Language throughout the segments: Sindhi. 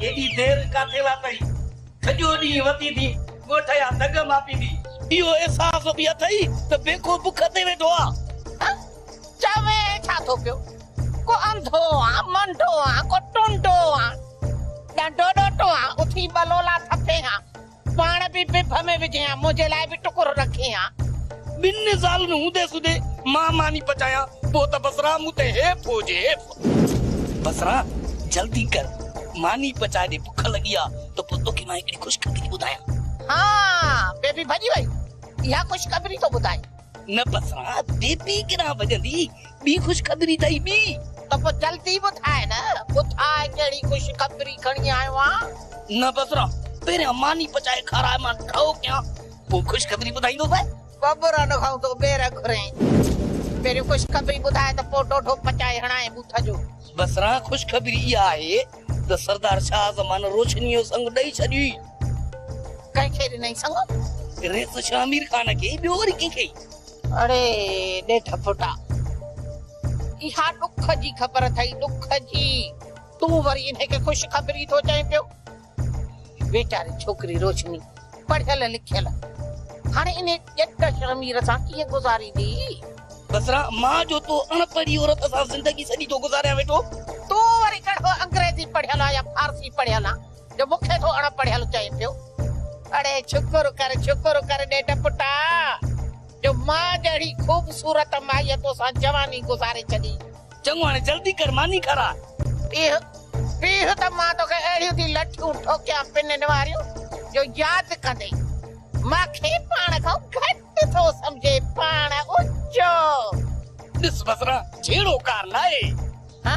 ايڏي دير ڪاٿي لا تئي. کڄو ڏينهن وتي ٿي، ڳوٺ جا دڳ ماپيندي. اهو احساس به اٿئي ته بيڪو بک تي ويٺو آ. ها چوين ڇا ٿو پيو. ڪو انڌو آ، منڍو آ، ڪو ٽنڊو آ. ڏنڊو ڏوٽو آ، اٿي ٻه لولا ٿڦين ها. پاڻ به ڀڀ ۾ وجهيان، منهنجي لاء به ٽڪرو رکيان. ٻن نزال ۾ هوندي سوندي مان ماني پچايان، پوء ته بصرا مون تي حيف هجي حيف. بصرا جلدي ڪر، ماني پچاء ڏي، بک لڳي آ ته پوء توکي مان هڪڙي خوشخبري ٿي ٻڌايان. ها، بيبي ڀڄي وئي، اها خوشخبري ٿو ٻڌائين. نه پسان بي پي ڪيڏانهن ڀڄندي، ٻي خوشخبري اٿئي ٻي. ته پوء جلدي ٻڌاء نه، ٻڌاء ڪهڙي خوشخبري کڻي آيو آهين. نه بصرا، پهريان ماني پچائي کاراء مان ڍؤ ڪيان، پوء خوشخبري ٻڌائيندوسانء. ببرن کان تون ٻير گهرين، پهريون خوشخبري ٻڌاء ته پوء ڍوڍو پچائي هڻانء بوٿ جو. بصره، خوشخبري اها آهي ته سردار شاهه زمان روشنيء جو سڱ ڏئي ڇڏيو ئي. ڪنهن کي ڏنائين سڱ؟ ريس شاهه مير خان کي، ٻيو وري ڪنهن کي؟ اڙي ڏيڍ ڦٽا، اها ڏک جي خبر اٿئي، ڏک جي. تون وري انهيء کي خوشخبري ٿو چئين پيو؟ ويچاري ڇوڪري روشني پڙهيل لکيل هاڻي انهي ڄٽ شرمير سان ڪيئن گذاريندي. بصرا، مان جو تو اڻ پڙهي عورت سان زندگي سڄي ٿو گذاريان ويٺو. تون وري ڪهڙو انگريزي پڙهيل آن يا فارسي پڙهيل آن جو مون کي ٿو اڻ پڙهيل چئين پيو. اڙي شڪر ڪر شڪر ڪر ڏيڍ پٽا جو مان جهڙي خوبصورت مائيء توسان جواني گذاري ڇڏي چڱو هاڻي جلدي ڪر ماني کاراء. پيء، پيء ته مان توکي اهڙيون ٿي لٺيون ٺوڪيان پنن واريون جو ياد ڪندي ماکي پاڻ کان گهٽ ٿو سمجهي پاڻ اچو. ڏس بصره جهيڙو ڪار لاهي. ها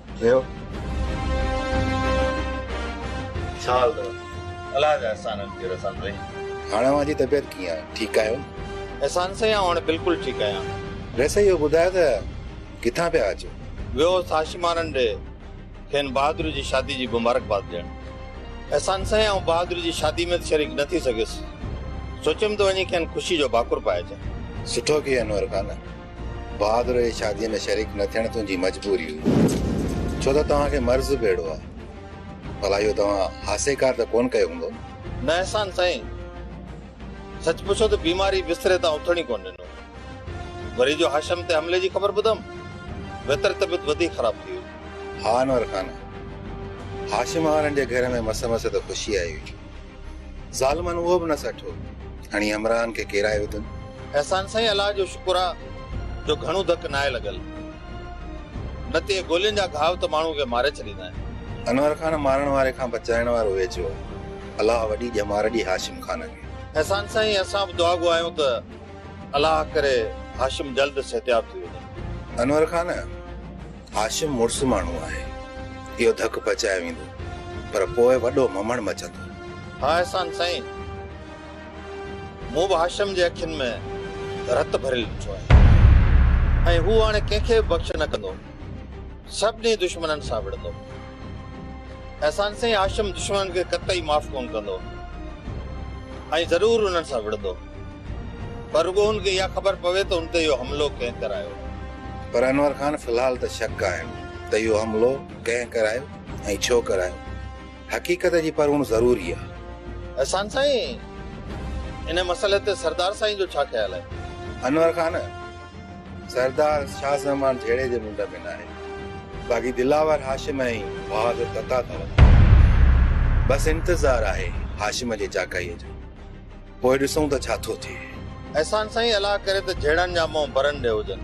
ٿيو. ڇال ته الله جا احسانن کي رسن رهي. هاڻ اوهان جي طبيعت ڪيئن آهي؟ ٺيڪ آهيو؟ احسان سائين آئون هاڻي بلڪل ٺيڪ آهيان. ويسي اهو ٻڌايو ته ڪٿان پيا اچو؟ ويو هوس هاشمارن ڏي کين بهادر جي شادي جي مبارڪباد ڏيڻ. احسان سائين آئون بهادر جي شادي ۾ ته شريڪ نه ٿي سگهيس. سوچيم ته وڃي کين خوشي جو ڀاڪر پائي اچان. سٺو ڪيئي انور خان. بهادر جي شاديء ۾ شريڪ نه ٿيڻ تنهنجي مجبوري هئي، ڇو ته توهان کي مرض به اهڙو آهي. ڀلا اهو توهان هاسيڪار ته ڪونه ڪيو هوندو؟ نه احسان سائين، سچ پڇو ته بيماري بستري تان اٿڻ ئي ڪونه ڏنو. وري جو هاشم تي حملي جي خبر ٻڌم، ويتر طبيعت وڌيڪ خراب ٿي وئي. ها انور خان، هاشم وارن جي گهر ۾ مس مس ته خوشي آئي هئي. ظالمن اهو به نه سٺو. هڻي همراهن کي ڪيرائي وڌن. احسان سائين الله جو شڪر آ جو گهڻو ڌڪ ناهي لڳل نه ته اهي گولين جا گهاو ته ماڻهو کي ماري ڇڏيندا آهن. انور خان مارڻ واري کان بچائڻ وارو ويجهو آ الله وڏي ڄمار ڏي هاشم خان کي. احسان سائين اسان به دعا گو آهيون ته الله ڪري هاشم جلد صحتياب ٿي وڃي. انور خان هاشم مڙس ماڻهو آهي، اهو ڌڪ پچايو ويندو، پر پوء وڏو ممڻ مچندو. ها احسان سائين، مون به هاشم جي اکين ۾ رت ڀريل ڏٺو آهي ۽ هو هاڻي ڪنهن کي به بخش نه ڪندو، سڀني دشمنن سان وڙهندو. احسان سائين، هاشم دشمنن کي قطعي معاف ڪونه ڪندو ۽ ضرور انهن سان وڙهندو. پر رڳو هن کي اها خبر پوي ته هن تي اهو حملو ڪنهن ڪرايو. پر انور خان في الحال ته شڪ آهن ته اهو حملو ڪنهن ڪرايو ۽ ڇو ڪرايو. حقيقت جي پروڙ ضروري آهي. احسان سائين ان مسئلي تي سردار سائين جو ڇا خيال آهي؟ انور خان سردار شاهه زمان جهيڙي جي منڍ ۾ ناهي باقي دلاور هاشم ۽ بهادر تتا اٿو. بس انتظار آهي هاشم جي چاڪائيء جو. پوء ڏسون ته ڇا ٿو ٿئي. احسان سائين الله ڪري ته جهيڙن جا منهن برن ڏي هجن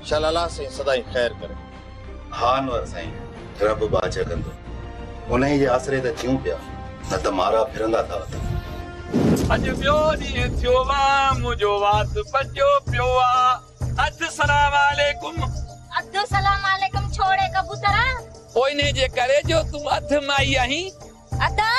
شل الله سائين سدائين خير ڪري. ها انور سائين رب ٻاجهه ڪندو انهي جي آسري ته جيون پيا نه ته مارا ڦرندا ٿا اٿن. اڄ ٻيو ڏينهن ٿيو آ منهنجو وات پچيو پيو آ اڌ سلام عليڪم. اڌ سلام عليڪم ڇوڙي ڪبوترا. پوء انهي جي ڪري جو تون اڌ مائي آهين. ادا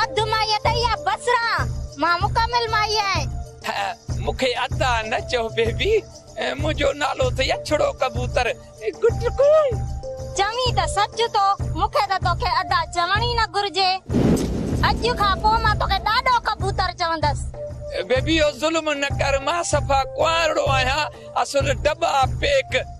اڌ مائي اٿئي يا بصران مان مڪمل مائي آهين. هه مونکي ادا نه چئو بيبي منهنجو نالو اٿئي اڇڙو ڪبوتر گٽ ڪون. چوين ته سچ ٿو مونکي ته توکي ادا چوڻ ئي نه گهرجي اڄ کان پو مان توکي ڏاڏو ڪبوتر چوندس. بيبي اهو ظلم نه ڪر مان صفا ڪنوارڙو آهيان اصل ڊٻا پيڪ.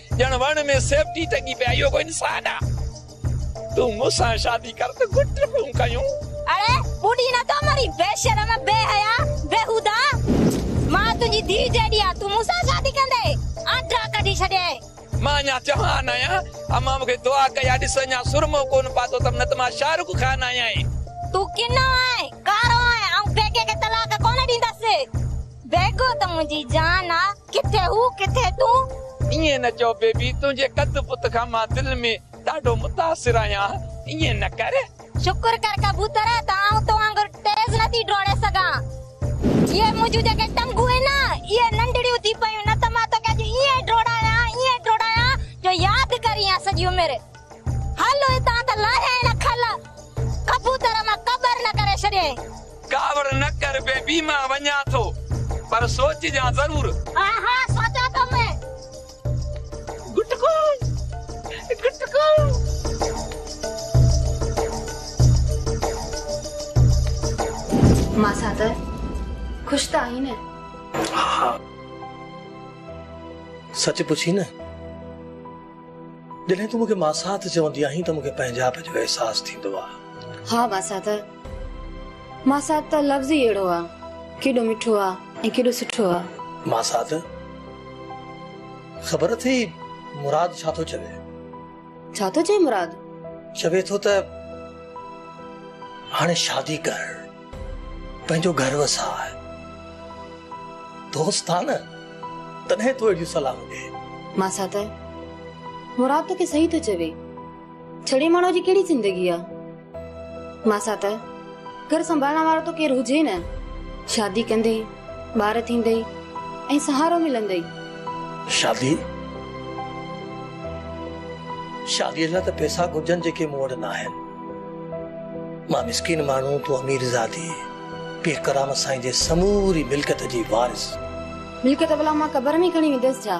ڄڻ وڻ ۾ سيپٽي ٽنگي پئي آهي اهو ڪو انسان آ تون مون سان شادي ڪر ته گٽ پيون ڪيون. اڙي ٻوڏي نه ٿو مرين بي شرم بي حيا بيهوده مان تنهنجي ڌيء جيڏي آ تون مون سان شادي ڪندي آنڊا ڪڍي ڇڏيائين. مان اڃا جوان آهيان امان مون کي دعا ڪئي آ ڏس اڃا سرمو ڪونه پاتو اٿم نه ته مان شاهه رخ خان آهيان. تون ڪنو آهين ڪارو آهين آئون بيگي کي طلاق ڪونه ڏيندس. بيگو ته منهنجي جان آ، ڪٿي هو ڪٿي تون. ائين نه چئو بيبي، تنهنجي قد بت کان مان دل ۾ ڏاڍو متاثر آهيان، ائين نه ڪر. شڪر ڪر ڪبوتر ته آئون تو وانگر تيز نه ٿي ڊوڙي سگهان. اهي منهنجون جيڪي ٽنگون آهن، اهي ننڍڙيون ٿي پيون، نه ته مان توکي اڄ ائين ڊوڙايان، ائين ڊوڙايان جو ياد ڪرينء سڄي عمر. هل هتان ته لاهيائين نه کل، ڪبوتر مان ڪٻر نه ڪري ڇڏيائين. ڪاوڙ نه ڪر بيبي مان وڃان ٿو پر سوچجان ضرور. ها ها سوچان ٿو مين گٽڪو گٽڪو. مان سان ته خوش ته آهين نه. ها سچ پڇين نه جڏهن تون مون کي ماسات چوندي آهين ته مون کي پنهنجائپ جو احساس ٿيندو آهي. ها مان سان ته ماسات ته لفظ ئي اهڙو آ. ڪيڏو مٺو آ ۽ ڪيڏو سٺو آ. ماسات، خبر اٿئي مراد ڇا ٿو چوي؟ ڇا ٿو چئي مراد؟ چوي ٿو ته هاڻي شادي ڪر، پنهنجو گهر وساء. دوست آ نه، تڏهن ٿو اهڙيون صلاحون ڏئي. ماسات، مراد توکي صحيح ٿو چوي. ڇڙي ماڻهوء جي ڪهڙي زندگي آ. ماسا ته گهر سنڀالڻ وارو ته ڪير هجي نه، شادي ڪندي، ٻار ٿيندي ۽ سهارو ملندي. شادي؟ شاديء لاء ته پئسا گهرجن جيڪي مون وٽ ناهن. مان مسڪين ماڻهو، تون اميرزادي، پير ڪرامت سائين جي سموري ملڪيت جي وارث. ملڪيت ڀلا مان قبر ۾ کڻي وينديس ڇا؟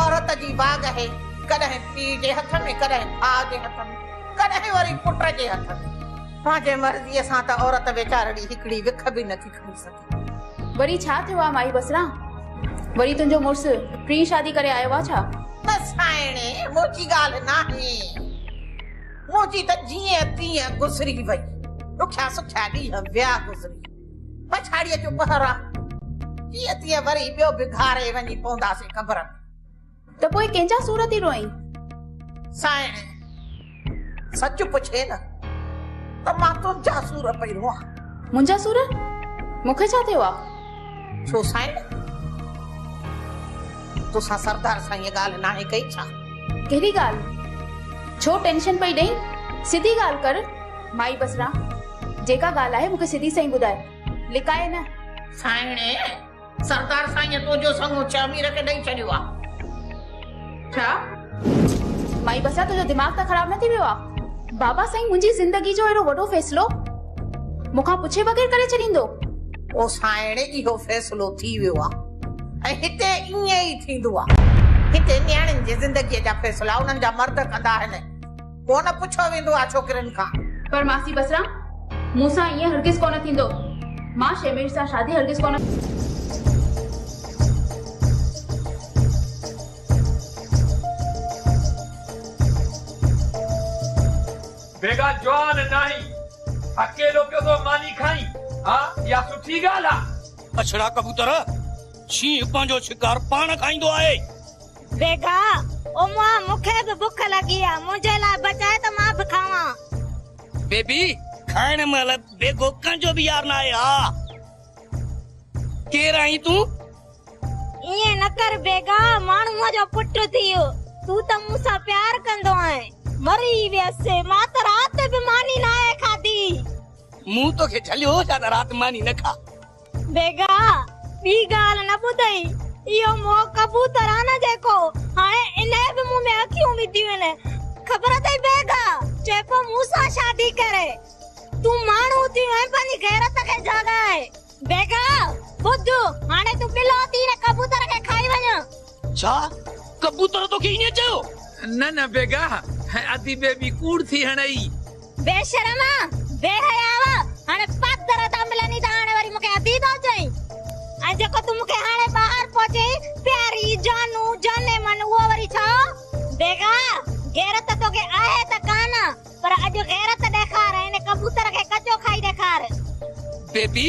عورت جي واڳ اهي ڪڏهن پيء جي هٿ ۾، ڪڏهن ڀاء جي هٿ ۾، ڪڏهن وري پٽ جي هٿ ۾. پنهنجي مرضيء سان ته عورت ويچارڙي هڪڙي وک به نٿي کڻي سگهي. وري ڇا ٿيو آ مائي بصرا؟ وري تنهنجو مڙس ٽين شادي ڪري آيو آ ڇا؟ نه سائڻي، منهنجي ڳالهه ناهي. منهنجي ته جيئن تيئن گذري وئي. ڏکيا سکيا ڏينهن ويا گذري. پڇاڙيء جو پهر آ، جيئن تيئن وري ٻيو به گهاري وڃي پونداسين قبر ۾. ته پوء ڪنهن جا سور ٿي روئين؟ سائڻي! سچ پڇين نه ته مان تنهنجا سور پئي روئان. منهنجا سور؟ مون کي ڇا ٿيو آ؟ ڇو سائڻي! توسان سردار سائينء ڳالهه ناهي ڪئي ڇا؟ ڪهڙي ڳالهه؟ ڇو ٽينشن پئي ڏئين؟ سڌي ڳالهه ڪر مائي بصره! جيڪا ڳالهه آهي، مون کي سڌي سئي ٻڌاء. لڪائي نه. سائڻي، سردار سائينء تنهنجو سڱو چهمير کي ڏئي ڇڏيو آ. ڇا؟ مائي بسا، تنهنجو دماغ ته خراب نه ٿي ويو آ؟ بابا سائين منهنجي زندگيء جو اهڙو وڏو فيصلو مون کان پڇي بغير ڪري ڇڏيندو؟ او سائڻي، اهو فيصلو ٿي ويو آ ۽ هتي ائين ئي ٿيندو آ. هتي نياڻين جي زندگيء جا فيصلا انهن جا مرد ڪندا آهن. ڪو نه پڇيو ويندو آ ڇوڪرين کان. پر ماسي بصرا مون سان ائين هرگز ڪو نه ٿيندو. مان شيمير سان شادي هرگز ڪو نه. بيگا جوان ناهين اڪيلو پيو ٿو ماني کائين ها اها سٺي ڳالهه آ. ٻڇڙا ڪبوتر، شينهن پنهنجو شڪار پاڻ کائيندو آهي. بيگا، اماء، مون کي به بک لڳي آ، منهنجي لاء بچاء ته مان به کاوان. بيبي، کائڻ مهل بيگو ڪنهن جو به يار ناهي ها. ڪير آهين تون؟ ائين نه ڪر بيگا، ماڻهوء جو پٽ ٿي، تون ته مون سان پيار ڪندو آهين. مري ويس، مان ته رات به ماني ناهي کاڌي. مون توکي جهليو هو ڇا ته رات ماني نه کاء. بيگا ٻي ڳالهه نه ٻڌئي، اهو مئو ڪبوتر آ نه جيڪو هاڻي انهيء به مون ۾ اکيون وڌيون آهن. خبر اٿئي بيگا، چئي پيو مون سان شادي ڪري. تون ماڻهو ٿي ويو آهين، پنهنجي غيرت کي جاڳائي. بيگا، ٻڌ، هاڻي تون ٻلو ٿي هن ڪبوتر کي کائي وڃ. ڇا ڪبوتر توکي ائين چيو؟ نه نه بيگاهه ادي بيبي ڪوڙ ٿي هڻئي. بيشرم بي حياء هاڻي پاڪ در تان ملني ته هاڻي وري مونکي ادي ٿو چئين ۽ جيڪو تون مونکي هاڻي ٻاهر پيو چئين پياري جانو جاني من اهو وري ڇا هو؟ بيگاهه غيرت توکي آهي ته ڪانه پر اڄ غيرت ڏيکار ۽ ان ڪبوتر کي ڪچو کائي ڏيکار. بيبي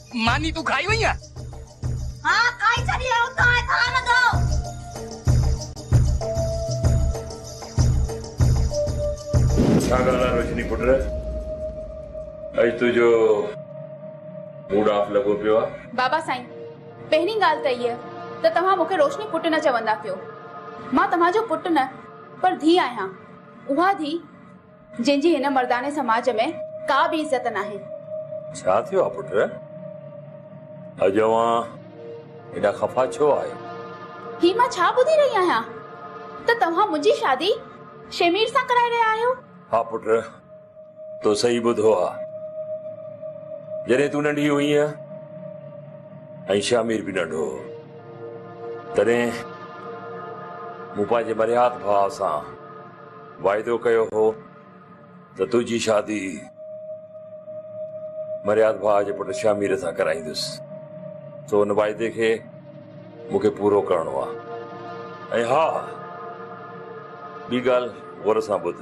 ماني تون کائي وئين آ. ها کائي ڇڏي آئون ته هاڻي ٿا رڌو. ڇا ڳالهه آ روشني پٽ اڄ تنهنجو موڊ آف لڳو پيو آ. بابا سائين پهرين ڳالهه ته هيء ته توهان مون کي روشني پٽ نه چوندا ڪيو مان توهان جو پٽ نه پر ڌيء آهيان اها ڌيء جنهن جي هن مرداني سماج ۾ ڪا به عزت ناهي. ڇا ٿيو آ پٽ؟ اڄ اوهان هيڏا خفا ڇو آهيو؟ هي مان ڇا ٻڌي رهي آهيان ته توهان منهنجي شادي شيمير سان ڪرائي رهيا آهيو؟ ها پٽ تو صحيح ٻڌو آ. جڏهن تون ننڍي هئينء ۽ شيمير به ننڍو هو تڏهن مون پنهنجي مرهيات ڀاء سان واعدو ڪيو هو ته تنهنجي شادي مرياد ڀاء جي پٽ شامير سان ڪرائيندس سو ان واعدي کي مون کي پورو ڪرڻو آهي ۽ ها ٻي ڳالهه غور سان ٻڌ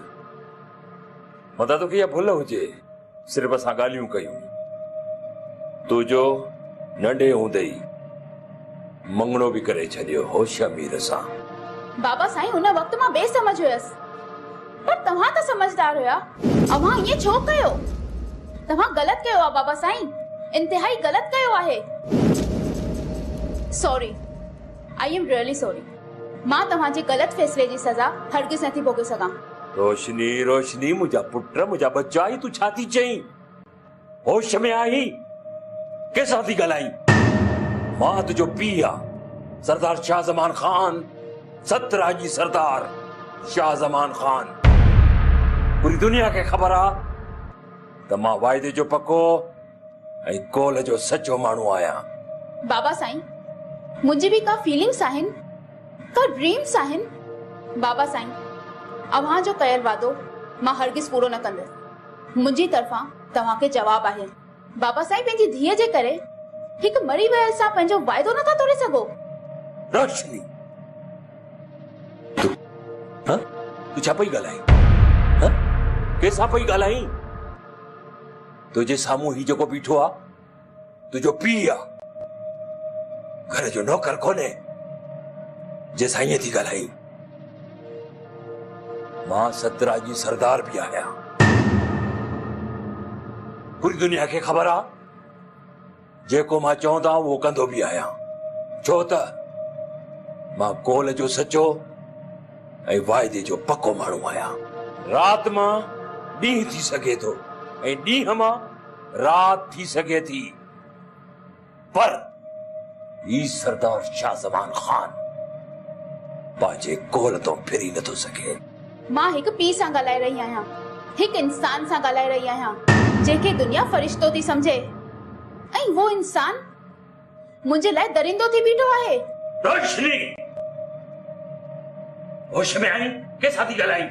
متان توکي اها ڀل هجي صرف اسان ڳالهيون ڪيون. تو جو ننڍي هوندي ئي مڱڻو به ڪري ڇڏيو هو شهمير سان. بابا سائين ان وقت مان بي سمجهه هيس. پر توهان ته سمجهدار هيا. اوهان ائين ڇو ڪيو؟ توهان غلط ڪيو آهي بابا سائين. انتهائي غلط ڪيو آهي. Sorry. I am really sorry. مان توهان جي غلط فيصلي جي سزا هرگز نٿي ڀوڳي سگهان. روشني، روشني منهنجا پٽ، منهنجا ٻچا هي تون ڇا ٿي چئين؟ هوش ۾ آهين؟ ڪنهن سان ٿي ڳالهائين؟ مان تنهنجو پيء آهيان، سردار شاهه زمان خان، ست راڄي سردار شاهه زمان خان. پوري دنيا کي خبر آهي ته مان واعدي جو پڪو، ۽ قول جو سچو ماڻهو آهيان. بابا سائين منهنجي به ڪا فيلنگس آهن ڪا ڊريمس آهن بابا سائين اوهان جو ڪيل وعدو مان هرگز پورو نه ڪندس منهنجي طرفان توهان کي جواب آهي بابا سائين پنهنجي ڌيء جي ڪري هڪ مري ويل سان پنهنجو وعدو نٿا ٽوڙي سگهو روشني تو ها تو ڇا پئي ڳالهائين ها ڪنهن سان پئي ڳالهائين. تنهنجي سامهون هي جيڪو بيٺو آ، تنهنجو پيء آ. گهر جو نوڪر ڪونهي، جنهن سان ائين ٿي ڳالهائين. مان سترا جي سردار به آهيان. پوري دنيا کي خبر آ. جيڪو مان چون ٿا اهو ڪندو به آهيان ڇو ته مان قول جو سچو ۽ واعدي جو پڪو ماڻهو آهيان. رات مان ڏينهن ٿي سگهي ٿو ۽ ڏينهن مان رات ٿي سگهي ٿي پر هي سردار شاهه زمان خان پنهنجي قول تان ڦري نٿو سگهي. مان هڪ پيء سان ڳالهائي رهي آهيان، هڪ انسان سان ڳالهائي رهي آهيان، جنهن کي دنيا فرشتو ٿي سمجهي ۽ اهو انسان منهنجي لاء درندو ٿي بيٺو آهي. روشني! هوش ۾ آهين؟ ڪنهن سان ٿي ڳالهائين؟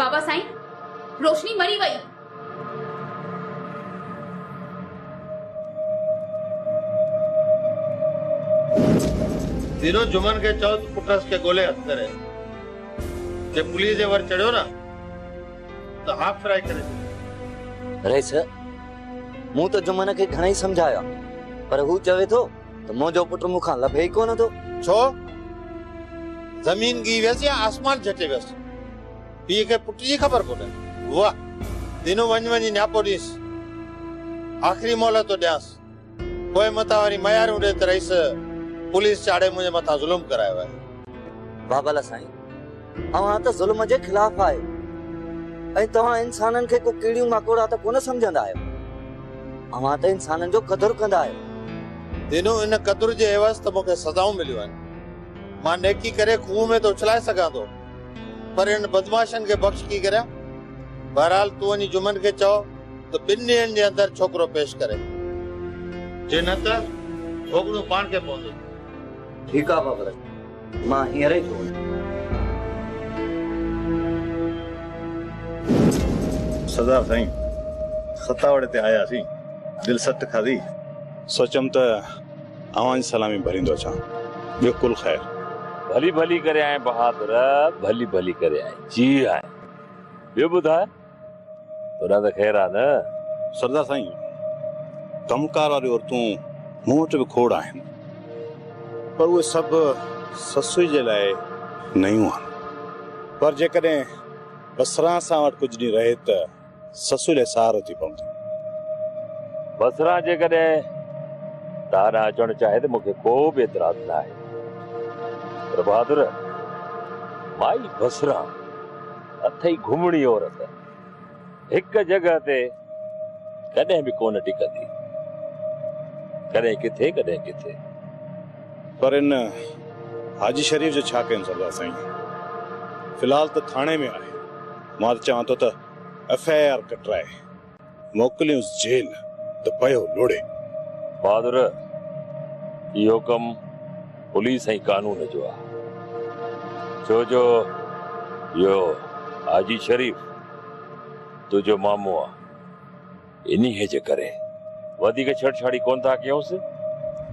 بابا سائين، روشني مري وئي. ڌيرو جمن کي چئو ته پٽس کي ڳولي هٿ ڪري جي پوليس جي ور چڙهيو نه ته هاف فرائي ڪري ڇڏيندو رئيس مون ته جمن کي گهڻائي سمجهايا پر هو چوي ٿو ته منهنجو پٽ مون کان لڀي ئي ڪونه ٿو ڇو زمين ڳهي ويس يا آسمان جهٽي ويس پيء کي پٽ جي خبر ڪونهي. واهه! دينو وڃ وڃي نياپو ڏينس. آخري مهلت ٿو ڏيانس. پوء متان وري مياريون ڏي ته رئيس پوليس چاڙهي منهنجي مٿان ظلم ڪرايو آهي. بابل سائين! اوهان ته ظلم جي خلاف آهيو ۽ توهان انسانن کي ڪو ڪيڙيون ماڪوڙا ته ڪونه سمجهندا آهيو. اوهان ته انسانن جو قدر ڪندا آهيو. دينو ان قدر جي عيوض ته مون کي سزائون مليون آهن. مان نيڪي ڪري کوهه ۾ ته اڇلائي سگهان ٿو. پر انهن بدمعاشن کي بخش ڪي ڪريان؟ بهرحال تون وڃي جمن کي چئو ته ٻن ڏينهن جي اندر ڇوڪرو پيش ڪري. جي نه ته ڀوڳڻو پاڻ کي پوندو. ٺيڪ آ بابر، مان هينئر ئي ٿو وڃان. سردار سائين، ستاوڙي تي آياسين، دل سٽ کاڌي. سوچيم ته. اوهان جي سلامي ڀريندو اچان ٻيو ڪل خير. ڀلي ڀلي ڪري آئين بهادر. ڀلي ڀلي ڪري آئين جي آئين ٻيو ٻڌاء تون ته خير آ نه. سردار سائين ڪم ڪار واريون عورتون مون وٽ به کوڙ آهن پر اهي سڀ سسئي جي لاء نيون آهن پر جيڪڏهن بسران سان وٽ ڪجهه ڏينهن رهي ته. سسئي لئه سار اچي پوندي. بصره جيڪڏهن تان ڏانهن اچڻ چاهي ته مون کي ڪو به اعتراض نه آهي. پر بهادر، مائي بصره اٿئي گهمڻي عورت، هڪ جڳهه تي ڪڏهن به ڪونه ٽڪندي. ڪڏهن ڪٿي ڪڏهن ڪٿي. پر ان حاجي شريف جو ڇا ڪيون سردار سائين. في الحال ته ٿاڻي ۾ آهي. مان ته چوان ٿو ته ايف آء آر ڪٽرائي موڪليونس جيل ته پيو لوڙهي. بهادر اهو ڪم پوليس ۽ قانون جو آهي ڇو جو اهو حاجي شريف تنهنجو مامو آهي. انهيء جي ڪري وڌيڪ ڇيڙڇاڙي ڪونه ٿا ڪيونس،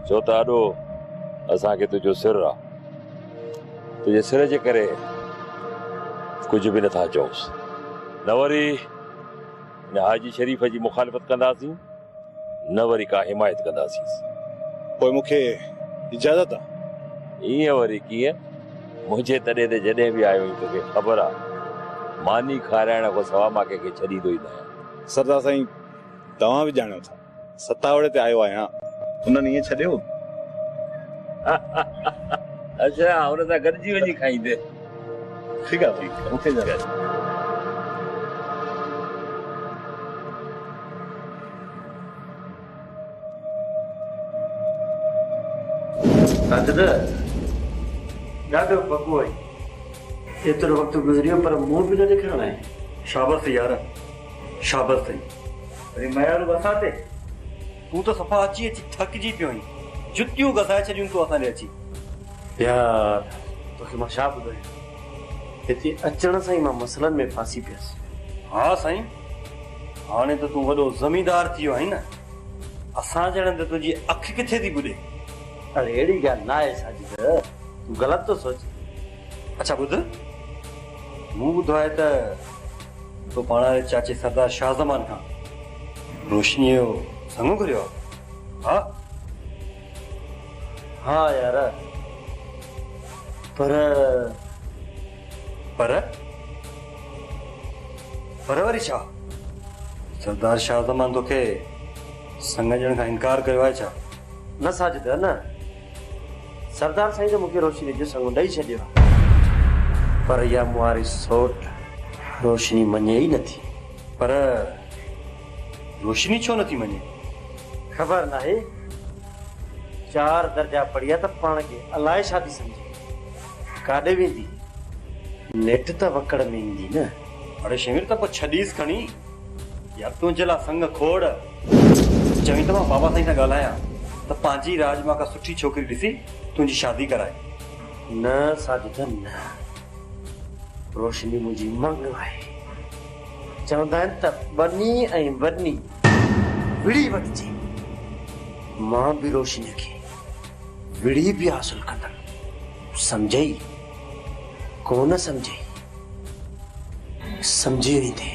ڇو ته اڏو اسان کي تنهنجو سر آ. تنهنجي سر جي ڪري ڪجهه به نه ٿا چئونس، نه وري هن حاجي شريف جي مخالفت ڪنداسين، نه وري ڪا حمايت ڪنداسينس. پوء مون کي اجازت آ. ائين وري ڪيئن؟ منهنجي تڏي تي جڏهن به آيو آهين، توکي خبر آ، ماني کارائڻ کان سواء مان ڪنهن کي ڇڏيندو ئي ناهيان. سردار سائين توهان به ڄاڻيو ٿا ستاوڙي تي آيو آهيان. انهن ائين ڇڏيو. اڇا ان سان گڏجي وڃي کائيندين. ٺيڪ آهي ٺيڪ آهي اوڪي جناب. ساجده، ڏاڍو پڪو آهين. ايترو وقت گذري ويو پر منهن به نه ڏيکاريو آهين. شابس اٿئي يار، شابس اٿئي. وري ميارو به اسان تي؟ تون ته صفا اچي اچي ٿڪجي پيو آهين. جتيون گسائي ڇڏيون تون اسان ڏي اچي. يار، توکي مان ڇا ٻڌايان. هتي اچڻ سان ئي مان مسئلن ۾ ڦاسي پيس. ها سائين. هاڻي ته تون وڏو زميندار ٿي ويو آهين نه، اسان جهڙن تي تنهنجي اک ڪٿي ٿي ٻڏي. اڙي اهڙي ڳالهه ناهي ساجد، تون غلط ٿو سوچين. اڇا ٻڌ، مون ٻڌو آهي ته تو پاڻ واري چاچي سردار شاهه زمان کان روشنيء جو سڱو گهريو آهي، ها؟ ها يار، پر. پر؟ فروري ڇا؟ سردار شاهه زمان توکي سڱ ڏيڻ کان انڪار ڪيو آهي ڇا؟ نه ساجده نه. سردار سائين ته مون کي روشني جو سڱ ڏئي ڇڏيو آهي. پر اها مون واري سوٽ روشني مڃي ئي نٿي. پر روشني ڇو نٿي مڃي؟ خبر ناهي. چار درجا پڙهي آهي ته پاڻ کي الائي ڇا ٿي سمجهي. ڪاڏي ويندي؟ نيٺ ته وڪڙ ۾ ايندي نه. اڙي شينوير ته پوء ڇڏيس کڻي. يار تنهنجي لاء سڱ کوڙ. چوين ته مان بابا سائين سان ڳالهايان ته پنهنجي راڄ مان ڪا سٺي ڇوڪري ڏسي تنهنجي شادي ڪرائي. نه ساجده نه. روشني منهنجي مڱ آهي. چوندا آهن ته ٻني ۽ وڏني وڙهي وٺجي. مان به روشنيء کي. وڙهي پيا حاصل ڪندڙ سمجهي ئي ڪونه سمجهي سمجهي ويندي.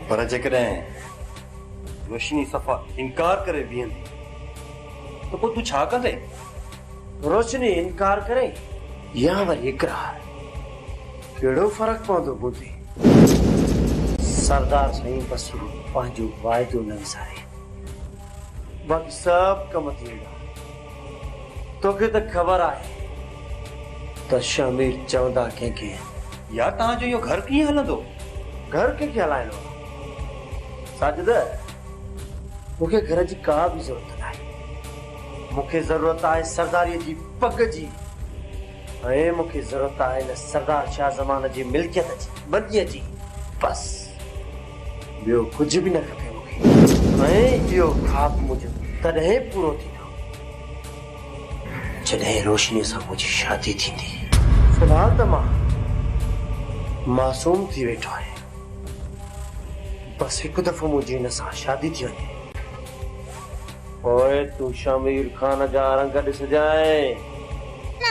پر جيڪڏهن روشني صفا انڪار ڪري بيهندي ته پوء تون ڇا ڪندين؟ روشني انڪار ڪري يا وري اقرار ڪهڙو فرق پوندو بوڌي؟ سردار سائين بس پنهنجو واعدو نه وساري. باقي سڀ ڪم ٿي ويندا. توکي ته خبر آهي ته شهمير چوندا ڪنهن کي آهن. يار توهان جو اهو گهر ڪيئن هلندو؟ گهر ڪنهن کي هلائڻو آهي ساجده؟ مون کي گهر جي ڪا به ضرورت ناهي. مون کي ضرورت آهي سرداريء جي پڳ جي ۽ مون کي ضرورت آهي هن سردار شاهه زمان جي ملڪيت جي، مديء جي، بس! ٻيو ڪجهه به نه کپي مون کي. ۽ اهو خواب منهنجو تڏهن پورو ٿيندو جڏهن روشنيء سان منهنجي شادي ٿيندي. في الحال ته مان معصوم ٿي ويٺو آهيان. بس هڪ دفعو منهنجي هن سان شادي ٿي وڃي. پوء تون شهمير خان جا رنگ ڏسجانء.